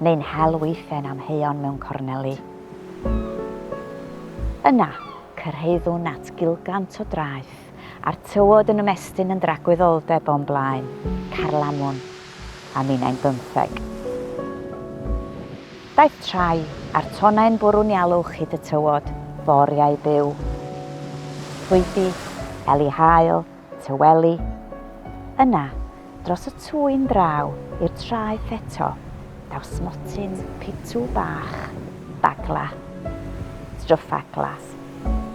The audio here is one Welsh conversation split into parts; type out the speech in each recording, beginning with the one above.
neu'n hel weiffen amheuon mewn corneli. Yna, cyrhaeddwn at gilgant o draeth, a'r tywod yn ymestyn yn dragwyddoldeb o'n blaen, carlamwn, a minnau'n bymtheg. Daeth trai, a'r tonnau'n bwrw'n ialwch hyd y tywod, foriau byw. Llwythi, eli haul, Tyweli. Yna, dros y twy'n draw i'r traeth eto, daw smotyn pitw bach, bagla. Stryffa glas.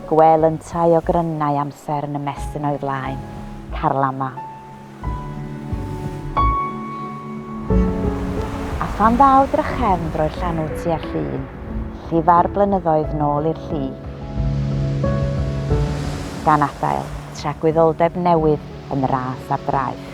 Gwel yntau o grynnau amser yn ymestyn o'i flaen. Carlama. A phan ddaw drachefn droi'r llanw tua llun, llifa'r blynyddoedd nôl i'r lli. Gan adael. tragwyddoldeb newydd yn ras ar draeth.